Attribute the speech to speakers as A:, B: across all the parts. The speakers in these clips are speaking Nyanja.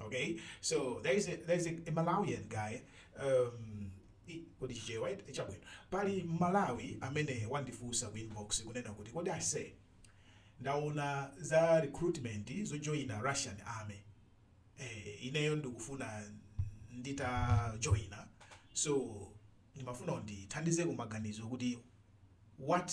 A: Okay, so there is a, there is a, a Malawian guy um, i- kodi chichewa eti chabwino pali mmalawi amene wandifunsa ku inbox kunena kuti kodi ase ndaona za recruitment zojoina russian army eh, ineyo ndikufuna nditajoina so ndimafuna undithandizeko maganizo kuti what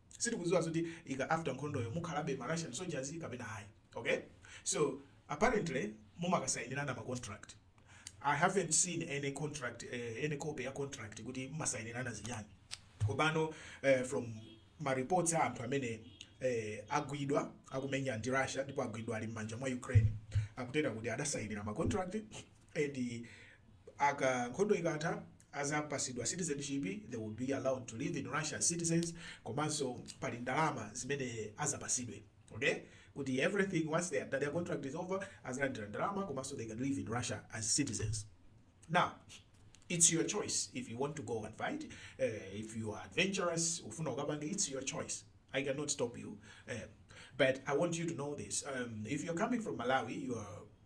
A: sitikuziwa kuti after nkhondoyo mukhalabe ma Russian soldiers kapena ayi ok so apparently mumakasainirana ma contract I haven't seen any contract uh, any copy ya contract kuti mumasainirana zinyani kopano uh, eh, from ma reports a anthu amene eh, agwidwa akumenya ndi Russia ndipo agwidwa ali mmanja mwa Ukraine akutera kuti adasainira ma contract and aka nkhondo ikatha azapasidwa citizenship they will be allowed to live in Russia as citizens komanso pali ndalama zimene azapasidwe okay kuti everything once their, their contract is over azalandira ndalama komanso they can live in Russia as citizens now it's your choice if you want to go and fight uh, if you are adventurous ufuna ukapange it's your choice I cannot stop you. Um, but I want you to know this. Um, if you're coming from Malawi, you are